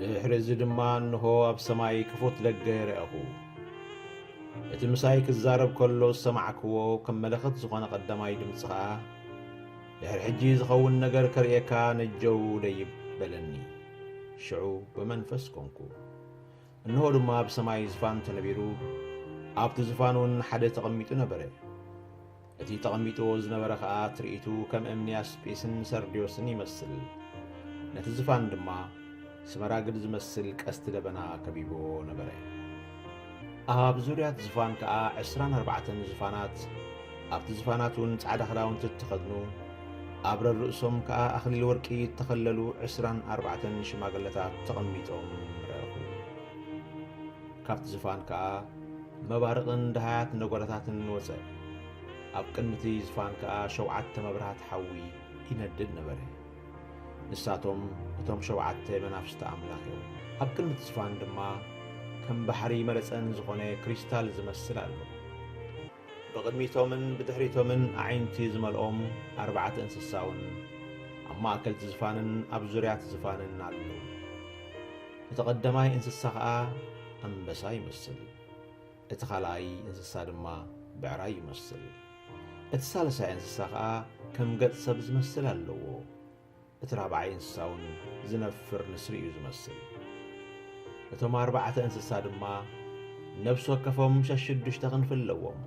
ድኅሪ እዚ ድማ እንሆ ኣብ ሰማይ ክፉት ደገ ረኣኹ። እቲ ምሳይ ክዛረብ ከሎ ዝሰማዕክዎ ከም መለኸት ዝኾነ ቀዳማይ ድምፂ ኸዓ ድኅሪ ሕጂ ዝኸውን ነገር ከርእየካ ነጀው ደይብ በለኒ። ሽዑ ብመንፈስ ኮንኩ። እንሆ ድማ ኣብ ሰማይ ዝፋን ተነቢሩ፣ ኣብቲ ዝፋንውን ሓደ ተቐሚጡ ነበረ። እቲ ተቐሚጥዎ ዝነበረ ኸኣ ትርኢቱ ከም እምኒ ያስጲስን ሰርድዮስን ይመስል፣ ነቲ ዝፋን ድማ ስመራግድ ዝመስል ቀስቲ ደበና ከቢብዎ ነበረ። ኣብ ዙርያት ዝፋን ከኣ ዕስራን ኣርባዕተን ዝፋናት ኣብቲ ዝፋናት እውን ጻዕዳ ክዳውንቲ እተኸድኑ፣ ኣብ ረርእሶም ከኣ ኣኽሊል ወርቂ እተኸለሉ ዕስራን ኣርባዕተን ሽማግለታት ተቐሚጦም ረእኹ። ካብቲ ዝፋን ከኣ መባርቕን ደሃያት ነጐዳታትን ወጸ፣ ኣብ ቅድሚ እቲ ዝፋን ከኣ ሸውዓተ መብርሃት ሓዊ ይነድድ ነበረ፣ ንሳቶም እቶም ሸውዓተ መናፍስቲ ኣምላኽ እዮም። ኣብ ቅድሚ እቲ ዝፋን ድማ ከም ባሕሪ መረጸን ዝዀነ ክሪስታል ዝመስል ኣሎ። ብቕድሚቶምን ብድሕሪቶምን ኣዒንቲ ዝመልኦም ኣርባዕተ እንስሳውን ኣብ ማእከልቲ ዝፋንን ኣብ ዙርያቲ ዝፋንን ኣለዉ። እቲ ቐዳማይ እንስሳ ኸኣ ኣንበሳ ይመስል፣ እቲ ኻልኣይ እንስሳ ድማ ብዕራይ ይመስል፣ እቲ ሳልሳይ እንስሳ ኸኣ ከም ገጽ ሰብ ዝመስል ኣለዎ። እቲ ራብዓይ እንስሳ እውን ዝነፍር ንስሪ እዩ ዝመስል። እቶም ኣርባዕተ እንስሳ ድማ ነብሲ ወከፎም ሸሽዱሽተ ክንፊ ኣለዎም።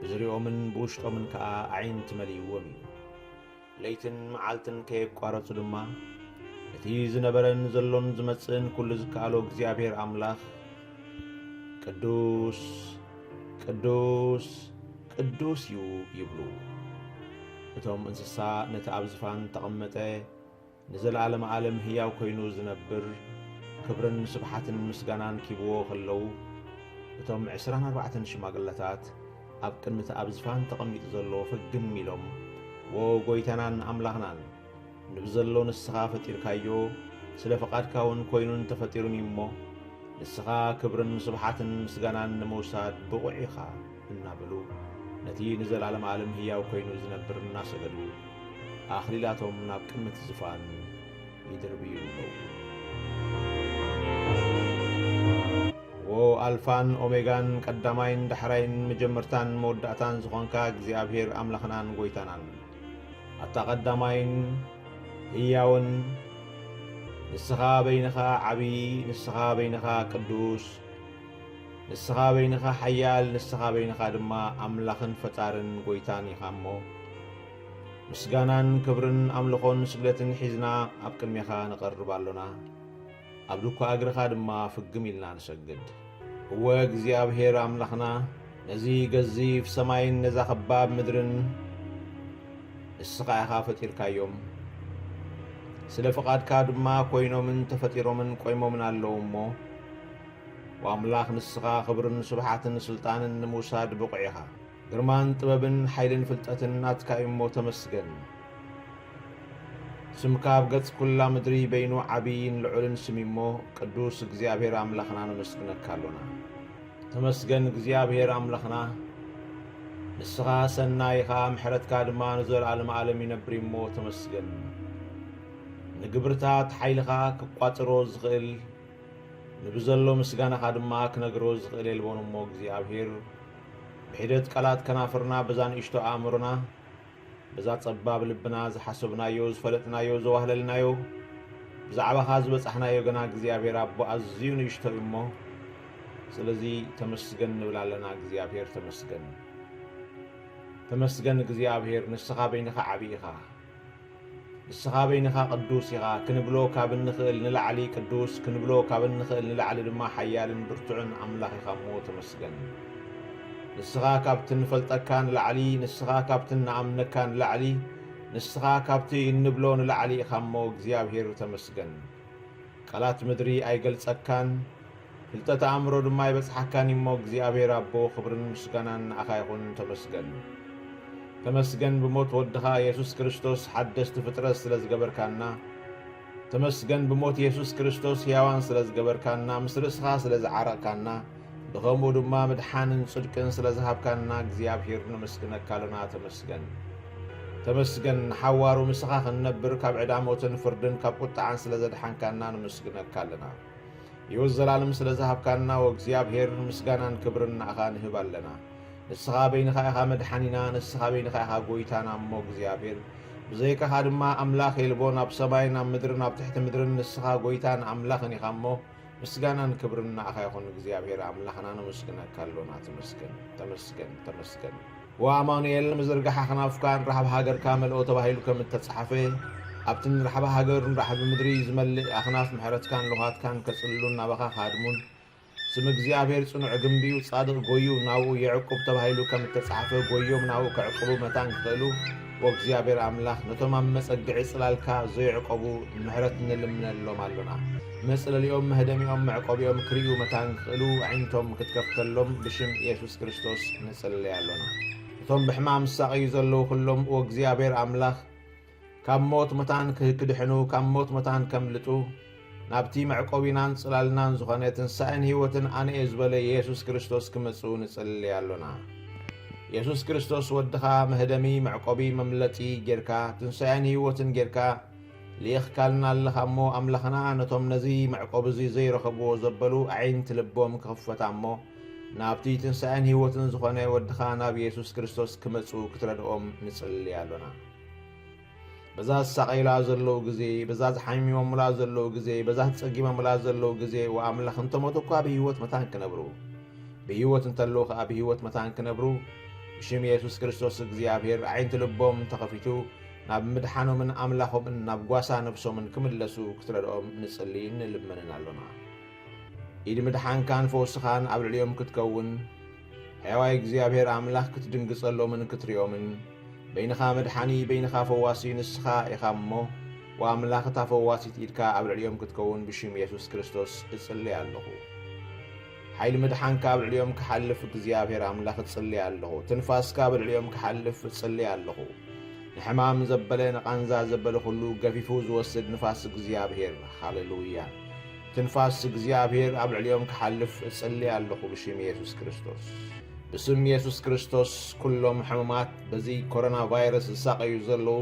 ብዝርይኦምን ብውሽጦምን ከኣ ኣዒንቲ መሊእዎም እዩ። ለይትን መዓልትን ከየቋረጹ ድማ እቲ ዝነበረን ዘሎን ዝመጽእን ኩሉ ዝከኣሎ እግዚኣብሔር ኣምላኽ ቅዱስ ቅዱስ ቅዱስ እዩ ይብሉ። እቶም እንስሳ ነቲ ኣብ ዝፋን እተቐመጠ ንዘለኣለመ ኣለም ህያው ኮይኑ ዝነብር ክብርን ስብሓትን ምስጋናን ኪብዎ ከለዉ እቶም ዕስራን ኣርባዕተን ሽማግለታት ኣብ ቅድሚ እቲ ኣብ ዝፋን ተቐሚጡ ዘሎ ፍግም ኢሎም ዎው ጐይታናን ኣምላኽናን ንብዘሎ ንስኻ ፈጢርካዮ ስለ ፍቓድካውን ኮይኑን ተፈጢሩን እዩ እሞ ንስኻ ክብርን ስብሓትን ምስጋናን ንምውሳድ ብቑዕ ኢኻ እናበሉ ነቲ ንዘለዓለም ኣለም ህያው ኮይኑ ዝነብር እናሰገዱ ኣኽሊላቶም ናብ ቅድሚቲ ዝፋን ይድርብዩ ኣለዉ። ዎ ኣልፋን ኦሜጋን ቀዳማይን ዳሕራይን መጀመርታን መወዳእታን ዝኾንካ እግዚኣብሔር ኣምላኽናን ጎይታናን ኣታ ቀዳማይን ህያውን ንስኻ በይንኻ ዓብዪ ንስኻ በይንኻ ቅዱስ ንስኻ በይንኻ ሓያል ንስኻ በይንኻ ድማ ኣምላኽን ፈጣርን ጐይታን ኢኻ እሞ ምስጋናን ክብርን ኣምልኾን ስግደትን ሒዝና ኣብ ቅድሜኻ ንቐርብ ኣሎና። ኣብ ድኳ እግርኻ ድማ ፍግም ኢልና ንሰግድ። እወ እግዚኣብሄር ኣምላኽና ነዚ ገዚፍ ሰማይን ነዛ ኸባብ ምድርን ንስኻ ኢኻ ፈጢርካዮም። ስለ ፍቓድካ ድማ ኮይኖምን ተፈጢሮምን ቆይሞምን ኣለዉ እሞ ኦ ኣምላኽ ንስኻ ኽብርን ስብሓትን ስልጣንን ንምውሳድ ብቑዕ ኢኻ። ግርማን ጥበብን ሓይልን ፍልጠትን ናትካ እዩሞ ተመስገን። ስምካ ኣብ ገጽ ኩላ ምድሪ በይኑ ዓብይን ልዑልን ስም እዩሞ ቅዱስ እግዚኣብሔር ኣምላኽና ነመስግነካ ኣሎና። ተመስገን እግዚኣብሔር ኣምላኽና ንስኻ ሰናይ ኢኻ ምሕረትካ ድማ ንዘለኣለም ኣለም ይነብር እዩሞ ተመስገን። ንግብርታት ሓይልኻ ክቋጽሮ ዝኽእል ንብዘሎ ምስጋናኻ ድማ ክነግሮ ዝኽእል የልቦን እሞ እግዚኣብሔር ብሒደት ቃላት ከናፍርና በዛ ንእሽቶ ኣእምሮና በዛ ጸባብ ልብና ዝሓሰብናዮ ዝፈለጥናዮ ዘዋህለልናዮ ብዛዕባኻ ዝበጻሕናዮ ገና እግዚኣብሔር ኣቦ ኣዝዩ ንእሽቶ እዩ እሞ ስለዚ ተመስገን ንብል ኣለና እግዚኣብሔር ተመስገን ተመስገን እግዚኣብሔር ንስኻ በይንኻ ዓብይ ኢኻ ንስኻ በይንኻ ቅዱስ ኢኻ ክንብሎ ካብ እንኽእል ንላዕሊ ቅዱስ ክንብሎ ካብ እንኽእል ንላዕሊ ድማ ሓያልን ብርቱዕን ኣምላኽ ኢኻ እሞ ተመስገን። ንስኻ ካብቲ እንፈልጠካ ንላዕሊ ንስኻ ካብቲ እንኣምነካ ንላዕሊ ንስኻ ካብቲ እንብሎ ንላዕሊ ኢኻ እሞ እግዚኣብሄር ተመስገን። ቃላት ምድሪ ኣይገልጸካን ፍልጠት ኣእምሮ ድማ ኣይበጽሓካን እዩሞ እግዚኣብሔር ኣቦ ክብርን ምስጋናን ንኣኻ ይኹን ተመስገን ተመስገን ብሞት ወድኻ የሱስ ክርስቶስ ሓደስቲ ፍጥረት ስለ ዝገበርካና ተመስገን ብሞት የሱስ ክርስቶስ ሕያዋን ስለ ዝገበርካና ምስ ርእስኻ ስለ ዝዓረቕካና ብኸምኡ ድማ ምድሓንን ጽድቅን ስለ ዝሃብካና እግዚኣብሔር ነመስግነካ ኣለና ተመስገን ተመስገን ንሓዋሩ ምስኻ ክንነብር ካብ ዕዳ ሞትን ፍርድን ካብ ቁጥዓን ስለ ዘድሓንካና ነመስግነካ ኣለና ሕይወት ዘላለም ስለ ዝሃብካና ወእግዚኣብሔር ምስጋናን ክብርን ንኣኻ ንህብ ኣለና። ንስኻ በይንኻ ኢኻ መድሓኒና ንስኻ በይንኻ ኢኻ ጎይታና እሞ እግዚኣብሔር ብዘይካኻ ድማ ኣምላኽ የልቦን ኣብ ሰማይን ኣብ ምድርን ኣብ ትሕቲ ምድርን ንስኻ ጎይታን ኣምላኽን ኢኻ እሞ ምስጋናን ክብርን ንኣኻ ይኹን እግዚኣብሔር ኣምላኽና ነመስግነካ ኣሎና ተመስገን ተመስገን ተመስገን ወኣማኑኤል ምዝርጋሓ ከናፍካ ንራሕቢ ሃገርካ መልኦ ተባሂሉ ከም እተጻሓፈ ኣብቲ ንራሕቢ ሃገር ንራሕቢ ምድሪ ዝመልእ ኣክናፍ ምሕረትካን ልዃትካን ከጽልሉን ናባኻ ክሃድሙን ስም እግዚኣብሔር ጽኑዕ ግምቢ'ዩ ጻድቕ ጎዩ ናብኡ የዕቁብ ተባሂሉ ከም እተጻሓፈ ጎዮም ናብኡ ከዕቁቡ መታን ክኽእሉ ኦ እግዚኣብሔር ኣምላክ ነቶም ኣብ መጸግዒ ጽላልካ ዞይዕቆቡ ምሕረት ንልምነሎም ኣሎና መጽለሊኦም መህደሚኦም መዕቆቢኦም ክርእዩ መታን ክኽእሉ ኣዒንቶም ክትከፍተሎም ብሽም ኢየሱስ ክርስቶስ ንጽልይ ኣሎና እቶም ብሕማም ዝሳቐዩ ዘለዉ ኩሎም ኦ እግዚኣብሔር ኣምላክ ካብ ሞት መታን ክድሕኑ ካብ ሞት መታን ከምልጡ ናብቲ መዕቆቢናን ጽላልናን ዝኾነ ትንሳኤን ሕይወትን ኣነ'የ ዝበለ የሱስ ክርስቶስ ክመጽኡ ንጽሊ ኣሎና። የሱስ ክርስቶስ ወድኻ መህደሚ፣ መዕቆቢ፣ መምለጢ ጌርካ፣ ትንሳኤን ሕይወትን ጌርካ ልኢኽካልና ኣለኻ እሞ፣ ኣምላኽና ነቶም ነዚ መዕቆቢ'ዚ ዘይረኸብዎ ዘበሉ ኣዒንቲ ልቦም ክኽፈታ እሞ ናብቲ ትንሳኤን ሕይወትን ዝኾነ ወድኻ ናብ የሱስ ክርስቶስ ክመጽኡ ክትረድኦም ንጽሊ ኣሎና። በዛ ዝሳቐዩላ ዘለዉ ግዜ፣ በዛ ዝሓሚሞሙላ ዘለዉ ግዜ፣ በዛ ተጸጊሞሙላ ዘለዉ ግዜ፣ ወኣምላኽ እንተሞቱ እኳ ብህይወት መታን ክነብሩ፣ ብህይወት እንተለዉ ከኣ ብህይወት መታን ክነብሩ፣ ብሽም የሱስ ክርስቶስ እግዚኣብሔር ኣዒንቲ ልቦም ተኸፊቱ ናብ ምድሓኖምን ኣምላኾምን ናብ ጓሳ ነብሶምን ክምለሱ ክትረድኦም ንጽልይን ንልመንን ኣሎና። ኢድ ምድሓንካን ፈውስኻን ኣብ ልዕሊኦም ክትከውን፣ ሕያዋይ እግዚኣብሔር ኣምላኽ ክትድንግጸሎምን ክትሪኦምን በይንኻ መድሓኒ በይንኻ ፈዋሲ ንስኻ ኢኻ እሞ ኦ ኣምላኽ እታ ፈዋሲት ኢድካ ኣብ ልዕሊኦም ክትከውን ብሽም የሱስ ክርስቶስ እጽልይ ኣለኹ ሓይሊ ምድሓንካ ኣብ ልዕሊኦም ክሓልፍ እግዚኣብሔር ኣምላኽ እጽልይ ኣለኹ ትንፋስካ ኣብ ልዕሊኦም ክሓልፍ እጽልይ ኣለኹ ንሕማም ዘበለ ንቓንዛ ዘበለ ኹሉ ገፊፉ ዝወስድ ንፋስ እግዚኣብሔር ሃለሉያ ትንፋስ እግዚኣብሔር ኣብ ልዕሊኦም ክሓልፍ እጽሊ ኣለኹ ብሽም የሱስ ክርስቶስ። ብስም የሱስ ክርስቶስ ኩሎም ሕሙማት በዚ ኮሮና ቫይረስ ዝሳቀዩ ዘለዉ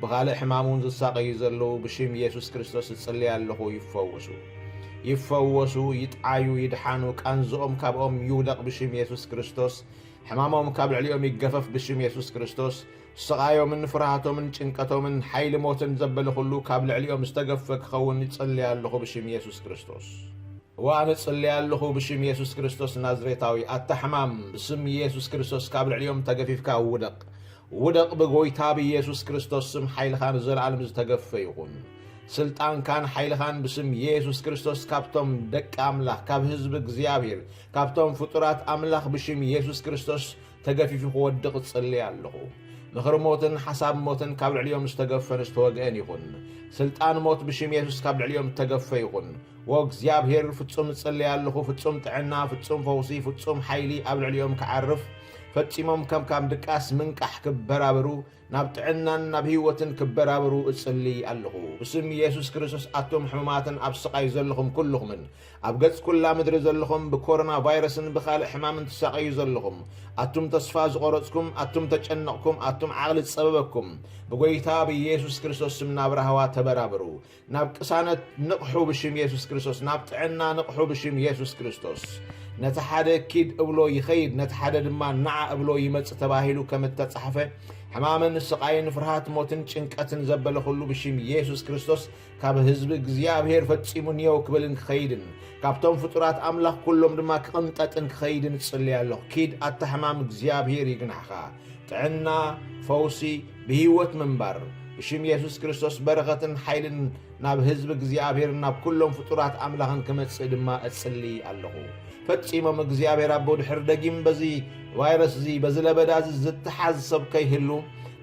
ብኻልእ ሕማም እውን ዝሳቀዩ ዘለዉ ብሽም የሱስ ክርስቶስ እጽሊ ኣለኹ ይፈወሱ ይፈወሱ ይጥዓዩ ይድሓኑ ቃንዝኦም ካብኦም ይውደቕ ብሽም የሱስ ክርስቶስ ሕማሞም ካብ ልዕሊኦም ይገፈፍ ብሽም የሱስ ክርስቶስ ስቓዮምን ፍርሃቶምን ጭንቀቶምን ሓይሊ ሞትን ዘበለ ኹሉ ካብ ልዕሊኦም ዝተገፈ ክኸውን ይጽሊ ኣለኹ ብሽም የሱስ ክርስቶስ። እወ ኣነ እጽሊ ኣለኹ ብሽም የሱስ ክርስቶስ ናዝሬታዊ ኣታ ሕማም ብስም የሱስ ክርስቶስ ካብ ልዕሊኦም ተገፊፍካ ውደቕ ውደቕ ብጎይታ ብየሱስ ክርስቶስ ስም ሓይልኻ ንዘለኣለም ዝተገፈ ይኹን ስልጣንካን ሓይልኻን ብስም የሱስ ክርስቶስ ካብቶም ደቂ ኣምላኽ ካብ ህዝቢ እግዚኣብሔር ካብቶም ፍጡራት ኣምላኽ ብሽም የሱስ ክርስቶስ ተገፊፉ ክወድቕ እጽሊ ኣለኹ። ምኽሪ ሞትን ሓሳብ ሞትን ካብ ልዕሊኦም ዝተገፈን ዝተወግአን ይኹን። ስልጣን ሞት ብሽም የሱስ ካብ ልዕሊኦም እተገፈ ይኹን። ዎ እግዚኣብሄር ፍጹም እጽሊ ኣለኹ ፍጹም ጥዕና ፍጹም ፈውሲ ፍጹም ሓይሊ ኣብ ልዕሊኦም ክዓርፍ ፈጺሞም ከም ካም ድቃስ ምንቃሕ ክበራበሩ ናብ ጥዕናን ናብ ህይወትን ክበራበሩ እጽሊ ኣለኹ ብስም የሱስ ክርስቶስ ኣቶም ሕሙማትን ኣብ ስቓይ ዘለኹም ኩሉኹምን ኣብ ገጽ ኩላ ምድሪ ዘለኹም ብኮሮና ቫይረስን ብኻልእ ሕማምን ትሳቐዩ ዘለኹም ኣቱም ተስፋ ዝቖረጽኩም ኣቱም ተጨነቕኩም ኣቱም ዓቕሊ ዝጸበበኩም ብጎይታ ብየሱስ ክርስቶስ ስም ናብ ራህዋ ተበራበሩ ናብ ቅሳነት ንቕሑ ብሽም የሱስ ክርስቶስ ናብ ጥዕና ንቕሑ ብሽም የሱስ ክርስቶስ ነቲ ሓደ ኪድ እብሎ ይኸይድ ነቲ ሓደ ድማ ንዓ እብሎ ይመጽእ ተባሂሉ ከም እተጻሕፈ ሕማምን ስቓይን ፍርሃት ሞትን ጭንቀትን ዘበለ ኹሉ ብሽም የሱስ ክርስቶስ ካብ ህዝቢ እግዚኣብሔር ፈጺሙ ንየው ክብልን ክኸይድን ካብቶም ፍጡራት ኣምላኽ ኩሎም ድማ ክቕንጠጥን ክኸይድን ጽልያ ኣለኹ ኪድ ኣታ ሕማም እግዚኣብሔር ይግናሕኻ ጥዕና፣ ፈውሲ፣ ብህይወት ምንባር። ብሽም የሱስ ክርስቶስ በረኸትን ሓይልን ናብ ህዝቢ እግዚኣብሔርን ናብ ኩሎም ፍጡራት ኣምላኽን ክመጽእ ድማ እጽሊ ኣለኹ። ፈጺሞም እግዚኣብሔር ኣቦ ድሕር ደጊም በዚ ቫይረስ እዚ በዚ ለበዳ እዚ ዝተሓዝ ሰብ ከይህሉ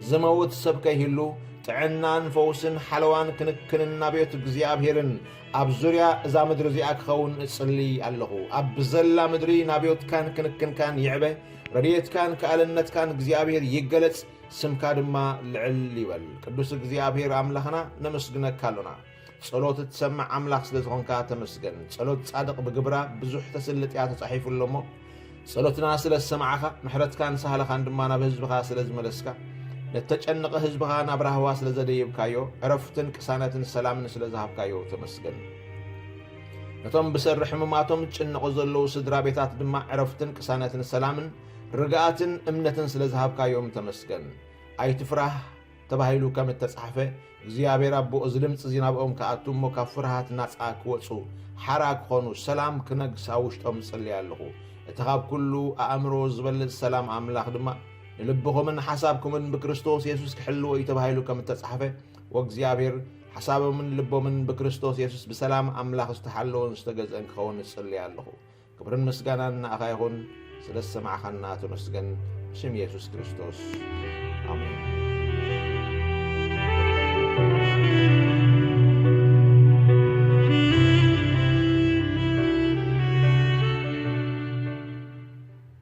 ዝመውት ሰብ ከይህሉ ጥዕናን ፈውስን ሓለዋን ክንክንን ናብ ቤት እግዚኣብሔርን ኣብ ዙርያ እዛ ምድሪ እዚኣ ክኸውን እጽሊ ኣለኹ። ኣብ ብዘላ ምድሪ ናብ ቤትካን ክንክንካን ይዕበ። ረድኤትካን ክኣልነትካን እግዚኣብሔር ይገለጽ ስምካ ድማ ልዕል ይበል ቅዱስ እግዚኣብሔር ኣምላኽና ነመስግነካ ኣሎና ጸሎት እትሰምዕ ኣምላኽ ስለ ዝኾንካ ተመስገን ጸሎት ጻድቕ ብግብራ ብዙሕ ተስልጥያ ተጻሒፉ ኣሎ እሞ ጸሎትና ስለ ዝሰማዕኻ ምሕረትካን ሳህልኻን ድማ ናብ ህዝብኻ ስለ ዝመለስካ ነተጨንቐ ህዝብኻ ናብ ራህዋ ስለ ዘደይብካዮ ዕረፍትን ቅሳነትን ሰላምን ስለ ዝሃብካዮ ተመስገን ነቶም ብሰሪ ሕሙማቶም ዝጭነቑ ዘለዉ ስድራ ቤታት ድማ ዕረፍትን ቅሳነትን ሰላምን ርግኣትን እምነትን ስለ ዝሃብካዮም ተመስገን። ኣይትፍራህ ተባሂሉ ከም እተጻሕፈ፣ እግዚኣብሔር ኣቦ እዚ ድምጺ እዚ ናብኦም ክኣቱ እሞ ካብ ፍርሃት ናጻ ክወጹ፣ ሓራ ክኾኑ፣ ሰላም ክነግስ ኣብ ውሽጦም እጽሊ ኣለኹ። እቲ ካብ ኩሉ ኣእምሮ ዝበልጽ ሰላም ኣምላኽ ድማ ንልብኹምን ሓሳብኩምን ብክርስቶስ የሱስ ክሕልዎ እዩ ተባሂሉ ከም እተጻሕፈ፣ ወእግዚኣብሔር ሓሳቦምን ልቦምን ብክርስቶስ የሱስ ብሰላም ኣምላኽ ዝተሓለወን ዝተገዝአን ክኸውን እጽልይ ኣለኹ። ክብርን ምስጋናን ንኣኻ ይኹን፣ ስለ ዝሰማዕኻና ተመስገን። ብስም የሱስ ክርስቶስ ኣሜን።